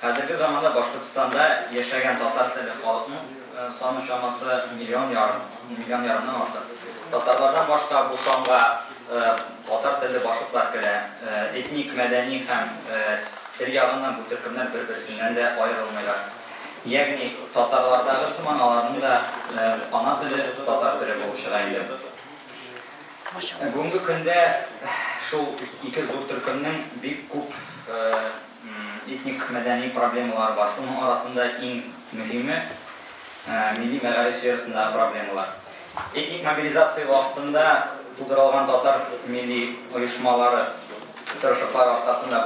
Хәзерге заманда Башкортстанда яшәгән татар телле халыкның саны чамасы миллион ярым, миллион ярымнан артык. Татарлардан башка бу санга татар телле башкортлар керә. Этник, мәдәни һәм тел ягыннан бу төркемнәр бер-берсеннән дә аерылмыйлар. Ягъни, татарлардагы сыман аларның да ана теле татар теле булып чыга инде. Бүгенге көндә шул ике зур төркемнең бик күп Этник-мәдәни проблемалар бар. Шуның арасында иң мөһиме, милли мәгариф сферасындагы проблемалар. Этник мобилизация вакытында тудырылган татар милли оешмалары тырышлыклар аркасында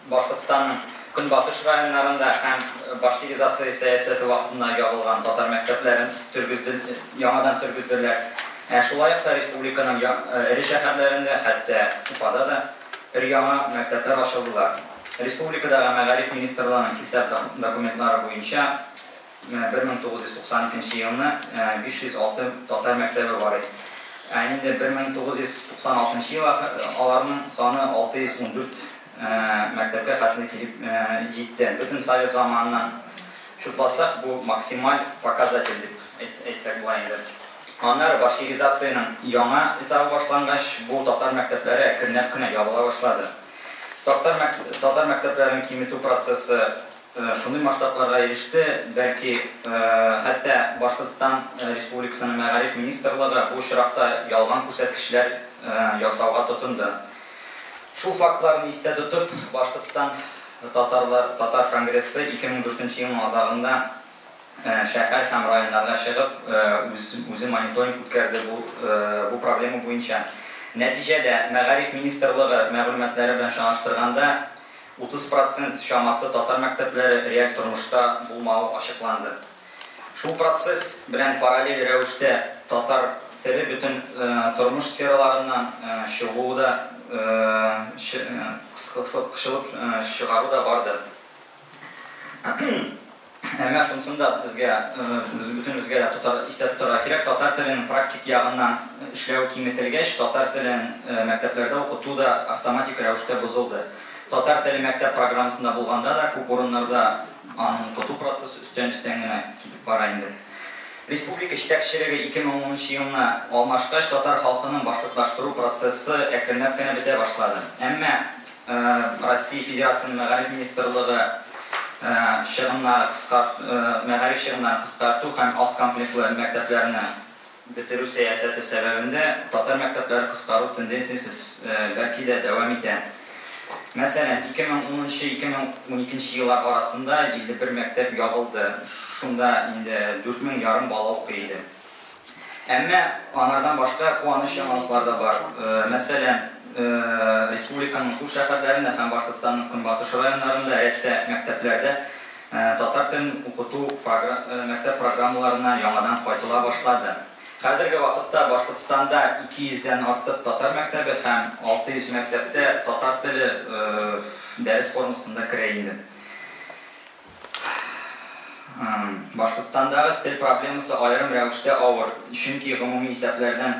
Башкортстанның көнбатыш районнарында һәм башкиризация сәясәте вакытында ябылган татар мәктәпләрен яңадан тергезделәр. Ә шулай ук та республиканың эре шәһәрләрендә, хәтта Уфада да Өр-яңа мәктәпләр ачылдылар. Республикадагы Мәгариф министрлыгының хисап документлары буенча, менә 1992 нче елны 506 татар мәктәбе бар иде. Ә инде 1996 нчы ел аларның саны 614 мәктәпкә хәтле килеп җитте. Бөтен совет заманыннан чутласак, бу максималь показатель дип әйтсәк була инде. Аннары башкиризациянең яңа этабы башлангач, бу татар мәктәпләре әкренләп кенә ябыла башлады. Татар татар мәктәпләрен киметү процессы шундый масштабларга иреште, бәлки, хәтта Башкортстан Республикасының мәгариф министрлыгы бу очракта ялган күрсәткечләр ясауга тотынды. Шул фактларны истә тотып, Башкортстан татарлар татар конгрессы 2004 нче елның азагында шәһәр һәм районнарга чыгып, үз-үзе мониторинг үткәрде бу проблема буенча. Нәтиҗәдә, Мәгариф министрлыгы мәгълүматлары белән чагыштырганда, 30 процент чамасы татар мәктәпләре реаль тормышта булмавы ачыкланды. Шул процесс белән параллель рәвештә татар теле бөтен тормыш сфераларыннан чыгуы да, кысылып чыгару да барды. Әмма шунысын да безгә, бөтенебезгә дә истә тотарга кирәк, татар теленең практик ягыннан эшләү киметелгәч, татар телен мәктәпләрдә укыту да автоматик рәвештә бозылды. Татар теле мәктәп программасында булганда да, күп урыннарда аны укыту процессы өстән-өстән генә китеп бара инде. Республика җитәкчелеге ике мең унынчы елны алмашкач, татар халкының башкортлаштыру процессы әкренләп кенә бетә башлады. Әмма Россия Федерациясенең Мәгариф министрлыгы чыгымнары кыскарт мәгариф чыгымнарын кыскарту һәм аз комплектлы мәктәпләрне бетерү сәясәте сәбәбендә татар мәктәпләре кыскару тенденциясе, бәлки дә, дәвам итә. Мәсәлән, ике мең унынчы, ике мең уникенче еллар арасында 51 мәктәп ябылды, шунда инде дүрт мең ярым бала укый иде. Әмма аңардан башка куаныч яңалыклар да бар. Мәсәлән, республиканың зур шәһәрләрендә һәм Башкортстанның көнбатыш районнарында рәттә мәктәпләрдә татар телен укыту мәктәп программаларына яңадан кайтыла башлады. Хәзерге вакытта Башкортстанда 200 дән артык татар мәктәбе һәм 600 мәктәптә татар теле дәрес формасында керә инде. Башкортстандагы тел проблемасы аерым рәвештә авыр, чөнки гомуми исәпләрдән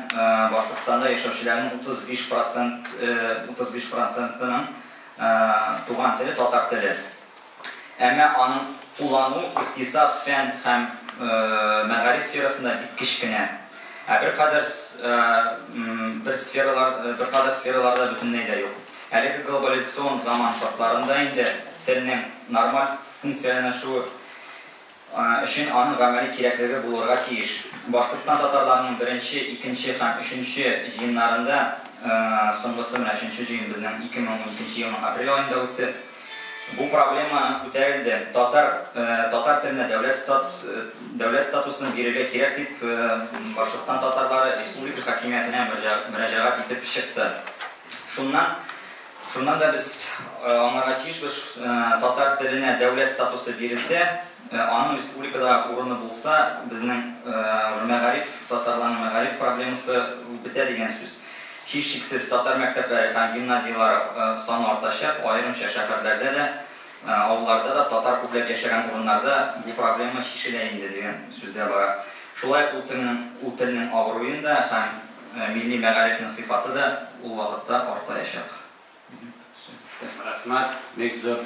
Башкортстанда яшәүчеләрнең 35 процентының туган теле татар теле. Әмма аның куллануы икътисад, фән һәм мәгариф сферасында бик кечкенә. Ә беркадәр бер сфералар, беркадәр сфераларда бөтенләй дә юк. Әлеге глобализацион заман шартларында инде телнең нормаль функцияләнәшүе өчен аның гамәли кирәклеге булырга тиеш. Башкортстан татарларының беренче, икенче һәм өченче җыеннарында, соңгысы менә өченче җыен безнең 2012 елның апрель аенда үтте, бу проблема күтәрелде, татар татар теленә дәүләт статус дәүләт статусын бирергә кирәк дип Башкортстан татарлары республика хакимиятенә мөрәҗәгать итеп чыкты. Шуннан Шуннан да без аңларга тиешбез, татар теленә дәүләт статусы бирелсә, аның республикада урыны булса, безнең уже мәгариф, татарларның мәгариф проблемасы бетә дигән сүз. Һичшиксез, татар мәктәпләре һәм гимназияләре саны артачак, аерымча шәһәрләрдә дә, авылларда да, татар күпләп яшәгән урыннарда бу проблема чишелә инде дигән сүз дә бара. Шулай ук ул телнең абруен да һәм. Милли мәгарифнең сыйфаты да ул вакытта артаячак. Рәхмәт, бик зур.